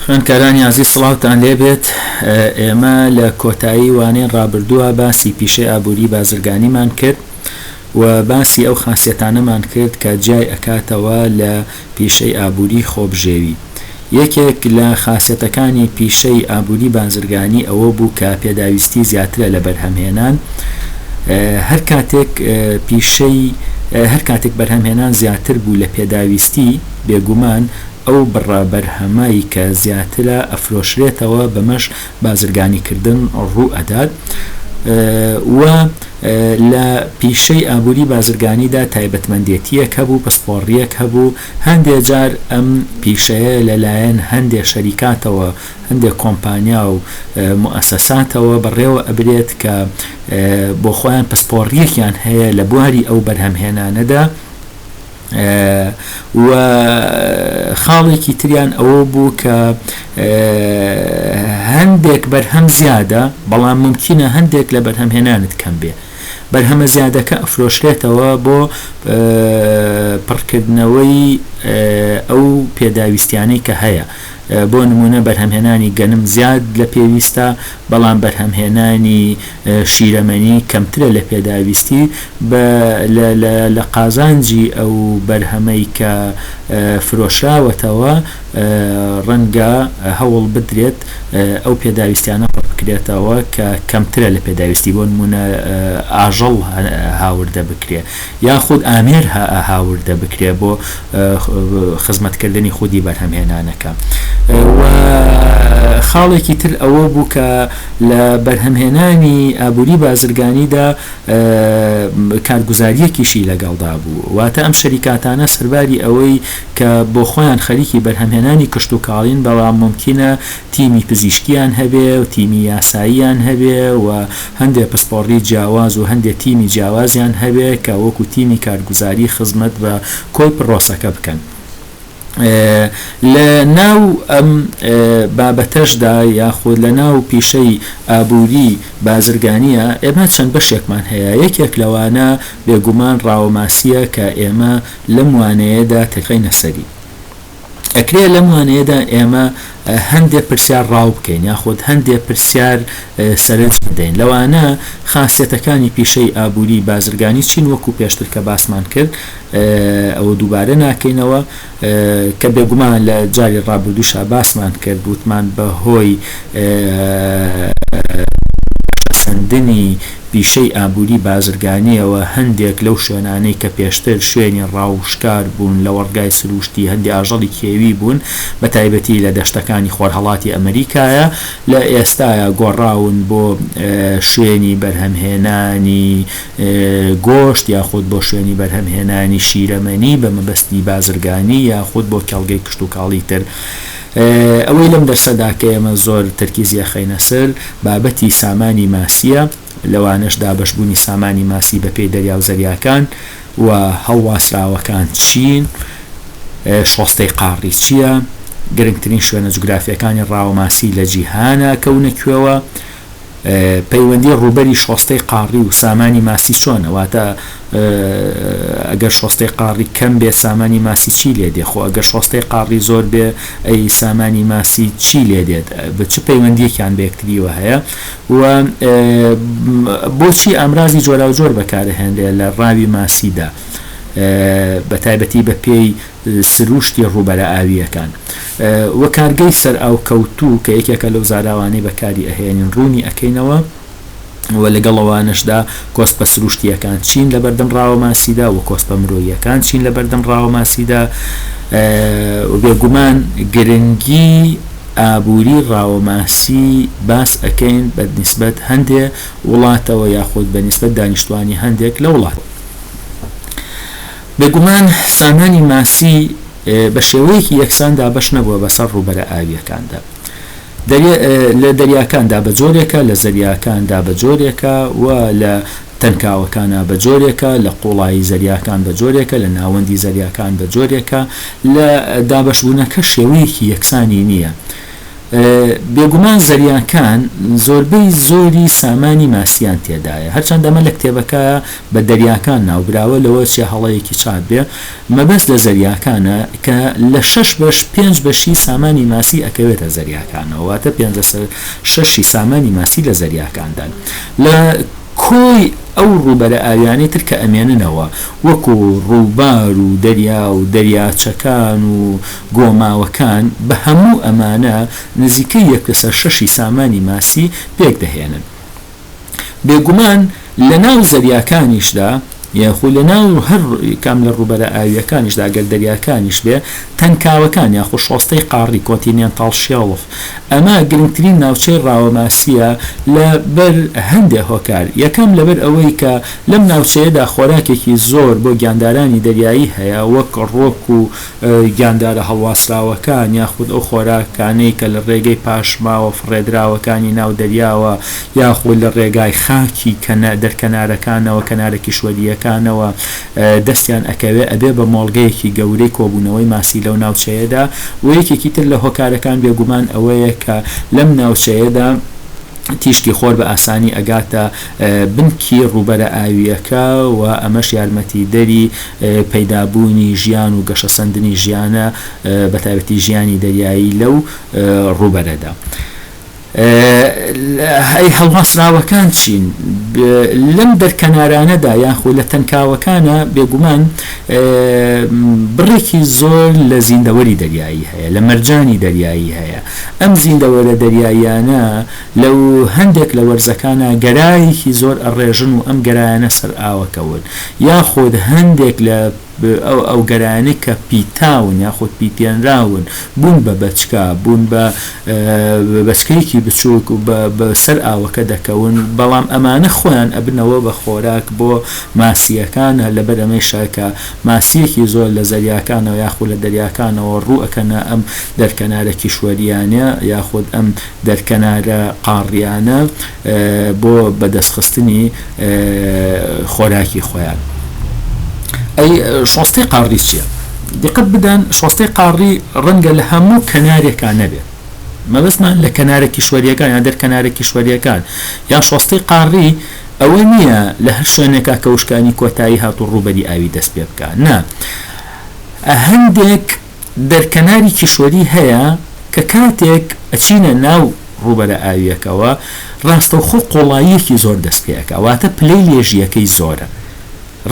خوێندکارانی ئازیز سڵاوتان لێبێت ئێمە لە کۆتایی وانەی ڕابردووە باسی پیشەی ئابوری بازرگانیمان کرد و باسی ئەو خاسیەتانەمان کرد کە جیای ئەکاتەوە لە پیشەی ئابوری خۆبژێوی یەکێک لە خاسیەتەکانی پیشەی ئابوری بازرگانی ئەوە بوو کە پێداویستی زیاترە لە بەرهەم هێنان هەرکاتێک بەرهەم هێنان زیاتر بوو لە پێداویستی بێگومان ئەو بڕە بەرهەمەی کە زیاترە ئەفرۆشرێتەوە بەمەش بازرگانیکردن ڕوو ئەدات و لە پیشەی ئابووری بازرگانیدا تایبەتمەندێتیەک هەبوو پسپۆڕیەک هەبوو هەندێ جار ئەم پیشەیە لە لایەن هەندێ شەریکاتەوە هەندێ کۆمپانیا و موئەسەساتەوە بەڕێوە ئەبرێت کە بۆخۆیان پسپۆڕیەکیان هەیە لە بواری ئەو بەرهەمهێنانەدا و خاڵێکی تریان ئەوە بوو کە هەندێک بەرهەم زیادە بەڵام ممکنە هەندێک لە بەرهەمهێنانت کەم بێ بەرهەمە زیادەکە ئەفرۆشرێتەوە بۆ پڕکردنەوەی ئەو پێداویستیانەی کە هەیە بۆ نموونە بەرهەمهێنانی گەنم زیاد لە پێویستە، بەڵام بەرهەمهێنانی شیرەمەنی کەمترە لە پێداویستی، بە لە قازانجی ئەو بەرهەمەی کە فرۆشراوەتەوە ڕەنگە هەوڵ بدرێت ئەو پێداویستیانە پڕ بکرێتەوە کە کەمترە لە پێداویستی، بۆ نموونە ئاژەڵ هاوردە بکرێت. یاخود ئامێر هە هاوردە بکرێ بۆ خزمەتکردنی خودی بەرهەمهێنانەکە و خاڵێکی تر ئەوە بوو کە لە بەرهەمهێنانی ئابووری بازرگانیدا کارگوزاریەکیشی لەگەڵدا بوو واتە ئەم شەریکاتانە سەرباری ئەوەی کە بۆ خۆیان خەریکی بەرهەمهێنانی کشتوکاڵین بەڵام مومکینە تیمی پزیشکیان هەبێ و تیمی یاساییان هەبێ و هەندێ پسپۆڕی جیاواز و هەندێ تیمی جیاوازیان هەبێ کە وەکو تیمی کارگوزاری خزمەت بە کۆی پڕۆسەکە بکەن لە ناو ئەم بابەتەشدا یاخود لە ناو پیشەی ئابووری بازرگانیە ئێمە چەند بەشێکمان هەیە یەکێک لەوانە بێگومان ڕاوەماسیە کە ئێمە لەم وانەیەدا تێکەینە سەری ئەکرێ لەم وانەیەدا ئێمە هەندێ پرسیار ڕاو بکەین یاخود هەندێ پرسیار سەرنج بدەین لەوانە خاسیەتەکانی پیشەی ئابووری بازرگانی چین وەکو پێشتر کە باسمان کرد ئەوە دووبارە ناکەینەوە کە بێگومان لە جاری ڕابردووشا باسمان کرد وتمان بە هۆی سندنی پیشەی ئابووری بازرگانییەوە هەندێک لەو شوێنانەی کە پێشتر شوێنی ڕاو و شکار بوون لە وەڕگای سرووشتی هەندێ ئاژەڵی کێوی بوون بە تایبەتی لە دەشتەکانی خۆرهەڵاتی ئەمریکایە لە ئێستایا گۆڕاون بۆ شوێنی بەرهەمهێنانی گۆشت یاخود بۆ شوێنی بەرهەمهێنانی شیرەمەنی بە مەبەستی بازرگانی یاخود بۆ کێڵگەی کشتوکاڵی تر. ئەوەی لەم دەرسەدا کە ئێمە زۆر تەرکیزی ئەخەینە سەر بابەتی سامانی ماسیە لەوانەش دابەشبوونی سامانی ماسی بە پێی دەریا و زەریاکان و هەڵواسراوەکان چین شۆستەی قاڕی چیە گرنگترین شوێنە جوگرافیەکانی ڕاوە ماسی لە جیهانا کەونە کوێوە پەیوەندی ڕووبەری شۆستەی قاڕی و سامانی ماسی چۆنە؟ واتە ئەگەر شۆستەی قاڕی کەم بێ سامانی ماسی چی لێ دێ؟ خۆ ئەگەر شۆستەی قاڕی زۆر بێ ئەی سامانی ماسی چی لێ دێت؟ چ پەیوەندیەکیان بە یەکتریوە هەیە؟ و بۆچی ئامرازی جۆراوجۆر بەکارئەهێنرێ لە ڕاوی ماسیدا بەتایبەتی بە پێی سرووشتی ڕووبەرە ئاوییەکان و کارگەی سەرئاوکەوتوو کە یەکێکە لەو زاراوانەی بەکاری ئەهێنین ڕوونی ئەکەینەوە و لەگەڵ ئەوانەشدا کۆسپە سرووشتییەکان چین لە بەردەم ڕاوە ماسیدا و کۆسپە مرۆییەکان چین لە بەردەم ڕاوە ماسیدا و بێگومان گرنگی ئابووری ڕاوە ماسی باس ئەکەین بە نیسبەت هەندێ وڵاتەوە یاخود بە نیسبەت دانیشتوانی هەندێک لە وڵات. بێگومان سامانی ماسی بە شێوەیەکی یەکسان دابەش نەبووە بەسەر ڕووبەرە ئاوییەکاندا لە دەریاکاندا بە جۆرێکە، لە زەریاکاندا بە جۆرێکە و لە تەنکاوەکانا بە جۆرێکە، لە قوڵایی زەریاکان بە جۆرێکە، لە ناوەندی زەریاکان بە جۆرێکە، لە دابەشبوونەکە شێوەیەکی یەکسانی نییە. بێگومان زریانکان زۆربەی زۆری سامانی ماسییان تێدایە، هەرچەندە ئەمە لە کتێبەکە بە دەریاکان ناوبراوە، لەوە چیە هەڵەیەکی چاپ بێ، مەبەست لە زریاکانە کە لە شەش بەش پێنج بەشی سامانی ماسی ئەکەوێتە زریاکانەوە، واتە پێنجە سەر شەشی سامانی ماسی لە زریاکاندان لە کۆی ئەو ڕووبەرە ئاویانەی تر کە ئەمێننەوە وەکو ڕووبار و دەریا و دەریاچەکان و گۆماوەکان بە هەموو ئەمانە نزیکەی یەک لەسەر شەشی سامانی ماسی پێکدەهێنن. بێگومان لە ناو زەریاکانیشدا یاخو لە ناو هەر کام لە ڕووبەرە ئاوییەکانیشدا ئەگەر دەریاکانیش بێ تەنکاوەکان یاخو شۆستەی قاڕی کۆنتینێنتاڵ شێڵف ئەمە گرنگترین ناوچەی ڕاوە ماسییە لە بەر هەندێ هۆکار یەکەم لە بەر ئەوەی کە لەم ناوچەیەدا خۆراکێکی زۆر بۆ گیاندارانی دەریایی هەیە وەک ڕۆک و گیاندارە هەڵواسراوەکان یاخود ئەو خۆراکانەی کە لە ڕێگەی پاشماوە فڕێدراوەکانی ناو دەریاوە یاخود لە ڕێگای خاکی دەرکەنارەکانەوە کەنارە کیشوەرییەکانەوە دەستیان ئەکەوێت ئەبێت بە مۆڵگەیەکی گەورەی کۆبوونەوەی ماسی لەو ناوچەیەدا و یەکێکی تر لە هۆکارەکان بێگومان ئەوەیە کە لەم ناوچەیەدا تیشکی خۆر بە ئاسانی ئەگاتە بنکی ڕووبەرە ئاوییەکە و ئەمەش یارمەتیدەری پەیدابوونی ژیان و گەشەسەندنی ژیانە بە تایبەتی ژیانی دەریایی لەو ڕووبەرەدا. ئەی هەڵواسراوەکان چین لەم دەرکەنارانەدا یاخود لە تەنکاوەکانا؟ بێگومان بڕێکی زۆر لە زیندەوەری دەریایی هەیە، لە مەرجانی دەریایی هەیە. ئەم زیندەوەرە دەریاییانە لە و هەندێک لە وەرزەکانا گەرایەکی زۆر ئەڕێژن و ئەم گەرایانە سەر ئاوەکەون یاخود هەندێک لە ئەو گەرایانەی کە پیتاون یاخود پیتێنراون بوون بە بەچکە بوون بە بەچکەیەکی بچوک و بە سەر ئاوەکە دەکەون بەڵام ئەمانە خۆیان ئەبنەوە بە خۆراک بۆ ماسییەکان هەر لەبەر ئەمەیشە کە ماسییەکی زۆر لە زەریاکانەوە یاخود لە دەریاکانەوە ڕوو ئەکەنە ئەم دەرکەنارە کیشوەرییانە یاخود ئەم دەرکەنارە قاڕییانە بۆ بەدەستخستنی خۆراکی خۆیان. ئەی شۆستەی قاڕی چییە؟ دیقەت بدەن شۆستەی قاڕی ڕەنگە لە هەموو کەنارێکا نەبێ، مەبەستمان لە کەنارە کیشوەرییەکان یان دەرکەنارە کیشوەرییەکان یان شۆستەی قاڕی ئەوە نییە لە هەر شوێنێکا کە وشکانی کۆتایی هات و ڕووبەری ئاوی دەست پێ بکا، نا هەندێک. دەرکەناری کیشوەری هەیە کە کاتێک ئەچینە ناو ڕووبەرە ئاوییەکەوە ڕاستەوخۆ قوڵاییەکی زۆر دەست پێ ئەکا واتە پلەی لێژییەکەی زۆرە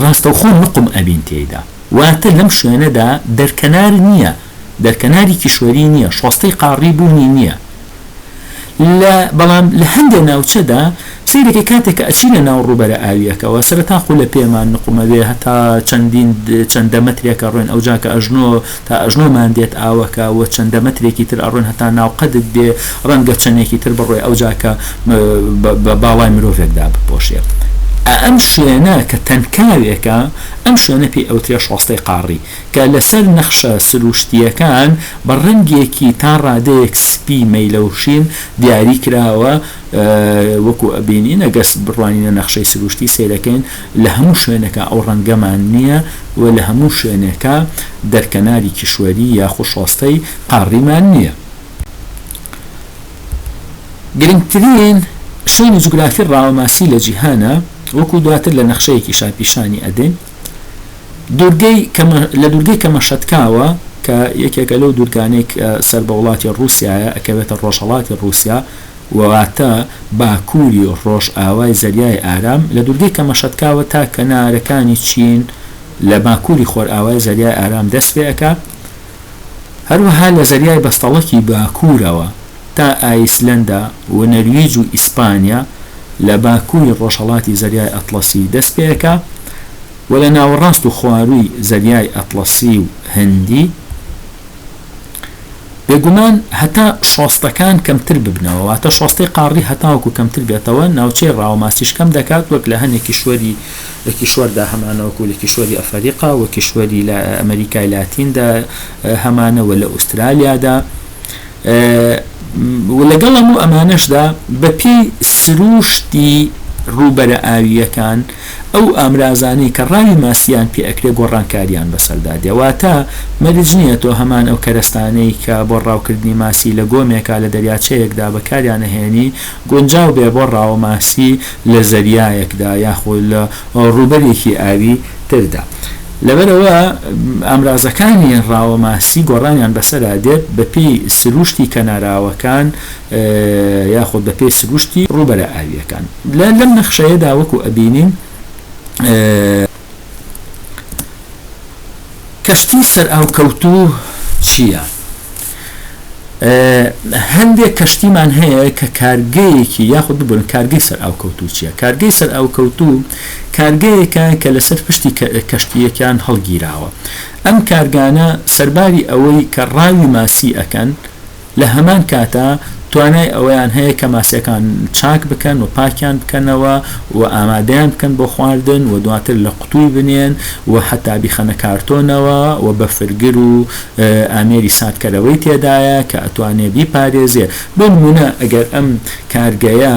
ڕاستەوخۆ نوقم ئەبین تێیدا واتە لەم شوێنەدا دەرکەنار نییە دەرکەناری کیشوەری نییە شۆستەی قاڕی بوونی نییە لە بەڵام لە هەندێ ناوچەدا سەیرەکەی کاتێک کە ئەچی لە ناو ڕووبەرە ئاوییەکەوە سەرەتا خولە پێمان نقومەوێ هەتا چەندین چەندە مەترێک ئەڕۆین ئەوجا کە ئەژنۆ تا ئەژنۆمان دێت ئاوەکە وە چەندە مەترێکی تر ئەڕۆن هەتا ناو قەدت دێ ڕەنگە چەنێکی تر بڕۆی ئەوجا کە بە باڵای مرۆڤێکدا بپۆشێ ئەم شوێنە کە تەنکاوێکە ئەم شوێنە پێی ئەوترێ شۆستەی قاڕی کە لەسەر نەخشە سرووشتییەکان بە ڕەنگێکی تا ڕادەیەک سپی مەیلەوشین دیاری کراوە، وەکو ئەبینین ئەگەر بڕوانینە نەخشەی سرووشتی سەیرەکەین لە هەموو شوێنێکا ئەو ڕەنگەمان نییە و لە هەموو شوێنێکا دەرکەناری کیشوەری یاخو شۆستەی قاڕیمان نییە. گرنگترین شوێنی جوگرافی ڕاوەماسی لە جیهانە، وەکو دواتر لە نەخشەیەکیشا پیشانی ئەدەین. لە دوورگەی کەمەشەتکاوە کە یەکێکە لەو دوورگانەی کە سەر بە وڵاتی ڕووسیایە ئەکەوێتە ڕۆژهەڵاتی ڕووسیا واتە باکووری ڕۆژئاوای زەریای ئارام لە دوورگەی کەمەشەتکاوە تا کەنارەکانی چین لە باکووری خۆرئاوای زەریای ئارام دەست پێ ئەکا هەروەها لە زەریای بەستەڵەکی باکوورەوە تا ئایسلەندا و نەرویج و ئیسپانیا لە باکووری ڕۆژهەڵاتی زەریای ئەتڵەسی دەست پێکا و لە ناوەڕاست و خوارووی زەریای ئەتڵەسی و هندی بێگومان هەتا شۆستەکان کەمتر ببنەوە واتە شۆستەی قاڕی هەتاوەکو کەمتر بێتەوە ناوچەی ڕاوەماسیش کەم دەکات وەک لە هەنێ کیشوەری لە کیشوەردا هەمانە وەکو لە کیشوەری ئەفەریقا و کیشوەری لە ئەمریکای لاتیندا هەمانەوە لە ئوسترالیادا و لەگەڵ هەموو ئەمانەشدا بەپێی سرووشتی ڕووبەرە ئاوییەکان ئەو ئامرازانەی کە ڕاوی ماسییان پێ ئەکرێ گۆڕانکارییان بەسەردا دێ واتە مەرج نییە تۆ هەمان ئەو کەرەستانەی کە بۆ ڕاوکردنی ماسی لە گۆمێکا لە دەریاچەیەکدا بەکاریان ئەهێنی گونجاو بێ بۆ ڕاوە ماسی لە زەریایەکدا یاخود لە ڕووبەرێکی ئاوی تردا. لەبەرئەوە ئامرازەکانی ڕاوە ماسی گۆڕانیان بەسەرا دێت بەپێی سرووشتی کەناراوەکان یاخود بەپێی سرووشتی ڕووبەرە ئاوییەکان لە لەم نەخشەیەدا وەکو ئەبینین کەشتی سەرئاوکەوتوو چییە؟ هەندێک کەشتیمان هەیە کە کارگەیەکی یاخود ببورن کارگەی سەر ئاوکەوتوو چییە کارگەی سەر ئاوکەوتوو کارگەیەکە کە لەسەر پشتی کەشتیەکان هەڵگیراوە ئەم کارگانە سەرباری ئەوەی کە ڕاوی ماسی ئەکەن لە هەمان کاتا توانای ئەوەیان هەیە کە ماسیەکان چاک بکەن و پاکیان بکەنەوە و ئامادەیان بکەن بۆ خواردن و دواتر لە قوتووی بنێن و هەتا بیخەنە کارتۆنەوە و بەفرگر و ئامێری ساردکەرەوەی تێدایە کە ئەتوانێ بیپارێزێ بۆ نموونە ئەگەر ئەم کارگەیە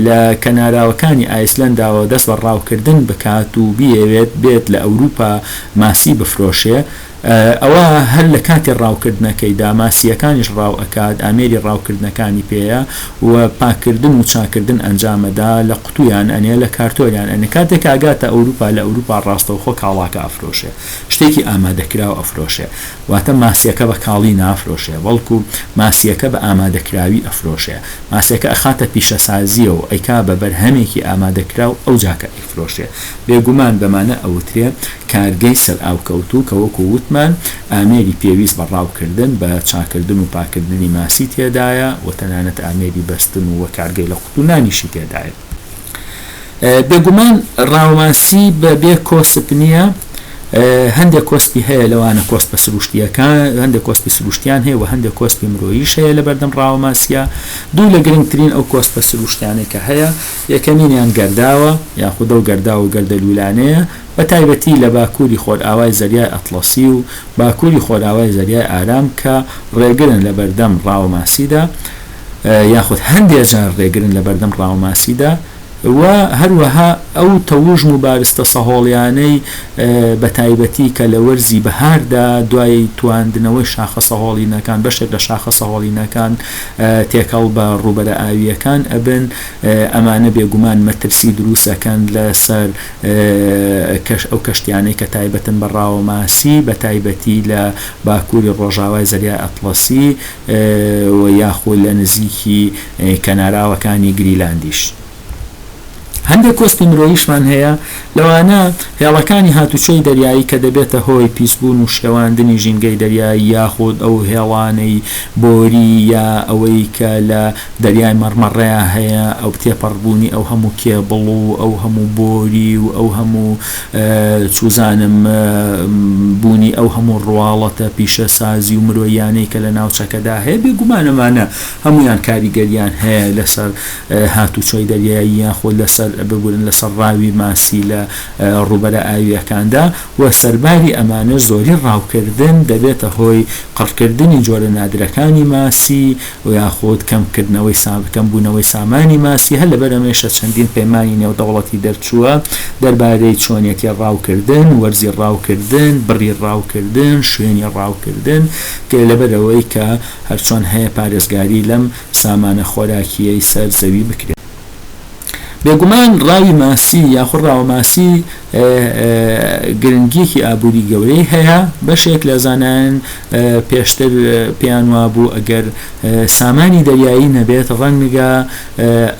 لە کەناراوەکانی ئایسلەنداوە دەست بە ڕاوکردن بکات و بیەوێت بێت لە ئەوروپا ماسی بفرۆشێ ئەوا هەر لە کاتی ڕاوکردنەکەیدا ماسییەکانیش ڕاو ئەکات ئامێری ڕاوکردنەکانی پێیە و پاککردن و چاککردن ئەنجام ئەدا لە قوتوویان ئەنێ لە کارتۆریان ئەنێ کاتێک ئەگاتە ئەوروپا لە ئەوروپا ڕاستەوخۆ کاڵاکە ئەفرۆشێ شتێکی ئامادەکراو ئەفرۆشێ واتە ماسیەکە بە کاڵی نافرۆشێ بەڵکو ماسیەکە بە ئامادەکراوی ئەفرۆشێ ماسیەکە ئەخاتە پیشەسازیەوە و ئەیکا بە بەرهەمێکی ئامادەکراو ئەوجا کە ئەیفرۆشێ بێگومان بەمانە ئەوترێ کارگەی سەرئاوکەوتوو کە وەکو وتمان ئامێری پێویست بە ڕاوکردن بە چاکردن و پاکردنی ماسی تێدایە و تەنانەت ئامێری بەستن و کارگەی لە قوتونانیشی تێدایە. بێگومان ڕاوماسی بە بێ کۆسپ نییە هەندێک کۆسپی هەیە لەوانە کۆسپە سروشتییەکان هەندێک کۆسپی سروشتیان هەیە و هەندێک کۆسپی مرۆیش هەیە لە بەردەم ڕاوماسیە دوو لە گرنگترین ئەو کۆسپە سروشتیانەی کە هەیە یەکەمینیان گەرداوە یاخودە و گەردا و گەردەلوولانەیە بە تایبەتی لە باکووری خۆرئاوای زەریای ئەتڵەسی و باکووری خۆرئاوای زەریای ئارام کە ڕێگرن لە بەردەم ڕاوماسیدا یاخود هەندێ جار ڕێگرن لە بەردەم ڕاوماسیدا و هەروەها ئەو تەوژم و بارستە سەهۆڵیانەی بە تایبەتی کە لە وەرزی بەهاردا دوای تواندنەوەی شاخە سەهۆڵینەکان بەشێک لە شاخە سەهۆڵینەکان تێکەڵ بە ڕووبەرە ئاوییەکان ئەبن ئەمانە بێگومان مەترسی دروست ئەکەن لەسەر ئەو کەشتیانەی کە تایبەتن بە ڕاوماسی بە تایبەتی لە باکووری ڕۆژاوای زەریای ئەتڵەسی و یاخود لە نزیکی کەناراوەکانی گریلاندیش هەندێک کۆسپی مرۆییشمان هەیە، لەوانە هێڵەکانی هاتوچۆی دەریایی کە دەبێتە هۆی پیسبوون و شێواندنی ژینگەی دەریایی یاخود ئەو هێڵانەی بۆری یا ئەوەی کە لە دەریای مەڕمەڕەیا هەیە ئەو تێپەڕبوونی ئەو هەموو کێبڵ و ئەو هەموو بۆری و ئەو هەموو چوزانم بوونی ئەو هەموو ڕواڵەتە پیشەسازی و مرۆییانەی کە لە ناوچەکەدا هەیە، بێگومان ئەمانە هەموویان کاریگەرییان هەیە لەسەر هاتوچۆی دەریایی یاخود لەسەر ببورن لەسەر ڕاوی ماسی لە ڕووبەرە ئاوییەکاندا و سەرباری ئەمانەش زۆری ڕاوکردن دەبێتە هۆی قڕکردنی جۆرە نادرەکانی ماسی و یاخود کەمکردنەوەی سام کەمبوونەوەی سامانی ماسی، هەر لەبەر ئەمەیشە چەندین پەیمانی نێودەوڵەتی دەرچووە دەربارەی چۆنیەتی ڕاوکردن، وەرزی ڕاوکردن، بڕی ڕاوکردن، شوێنی ڕاوکردن، کە لەبەرئەوەی کە هەرچۆن هەیە پارێزگاری لەم سامانە خۆراکییەی سەر زەوی بکرێت. بێگومان ڕاوی ماسی یاخود ڕاوە ماسی گرنگییەکی ئابووری گەورەی هەیە بەشێک لە زانایان پێشتر پێیان وابوو ئەگەر سامانی دەریایی نەبێت ڕەنگە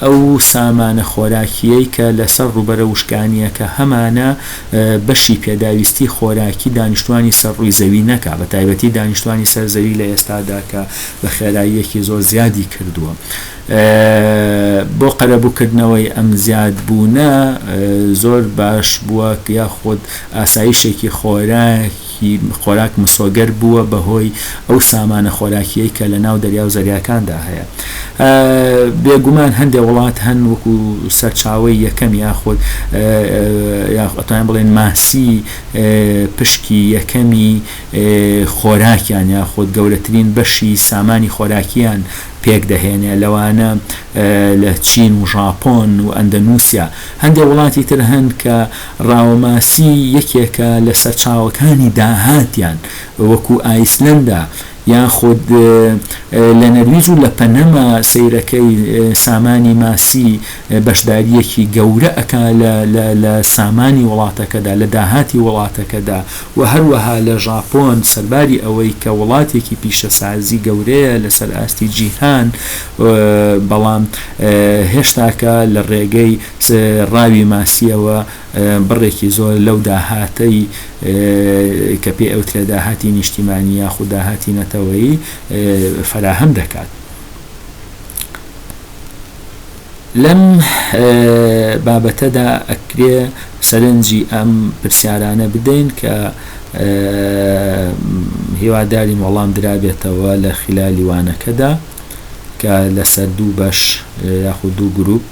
ئەو سامانە خۆراکییەی کە لەسەر ڕووبەرە وشکانییەکە هەمانە بەشی پێداویستی خۆراکی دانیشتوانی سەر ڕووی زەوی نەکات بەتایبەتی دانیشتوانی سەر زەوی لە ئێستادا کە بە خێراییەکی زۆر زیادی کردووە بۆ قەرەبووکردنەوەی ئەم زیادبوونە زۆر باش بووە یاخود ئاسایشێکی خۆراک مسۆگەر بووە بەهۆی ئەو سامانە خۆراکییەی کە لەناو دەریا و زەریاکاندا هەیە؟ بێگومان هەندێک وڵات هەن وەکو سەرچاوەی یەکەم یاخود ئەتوانین بڵێین ماسی پشکی یەکەمی خۆراکیان یاخود گەورەترین بەشی سامانی خۆراکییان پێکدەهێنێ لەوانە لە چین و ژاپۆن و ئەندەنوسیا هەندێ وڵاتی تر هەن کە ڕاوەماسی یەکێکە لە سەرچاوەکانی داهاتیان وەکو ئایسلەندا یاخود لە نەرویج و لە پەنەما سەیرەکەی سامانی ماسی بەشدارییەکی گەورە ئەکا لە لە لە سامانی وڵاتەکەدا، لە داهاتی وڵاتەکەدا و هەروەها لە ژاپۆن سەرباری ئەوەی کە وڵاتێکی پیشەسازی گەورەیە لەسەر ئاستی جیهان بەڵام هێشتاکە لە ڕێگەی ڕاوی ماسییەوە بڕێکی زۆر لەو داهاتەی کە پێی ئەوترێ داهاتی نیشتیمانی یاخود داهاتی نەتەوەیی فەراهەم دەکات. لەم بابەتەدا ئەکرێ سەرنجی ئەم پرسیارانە بدەین کە هیوادارین وەڵام درابێتەوە لە خلالی وانەکەدا کە لەسەر دوو بەش یاخود دوو گروپ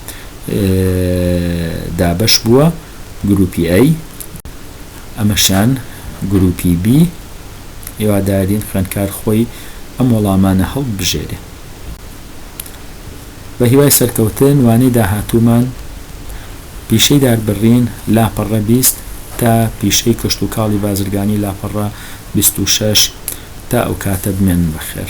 دابەش بووە گروپی ئەی ئەمەشان گروپی بی هیوادارین خوێنکار خۆی ئەم وەڵامانە هەڵبژێرێ بە هیوای سەرکەوتن وانەی داهاتوومان پیشەی داربرین لاپەڕە 20 تا پیشەی کشتوکاڵی بازرگانی لاپەڕە 26 تا ئەوکاتە بمێنن بەخێر.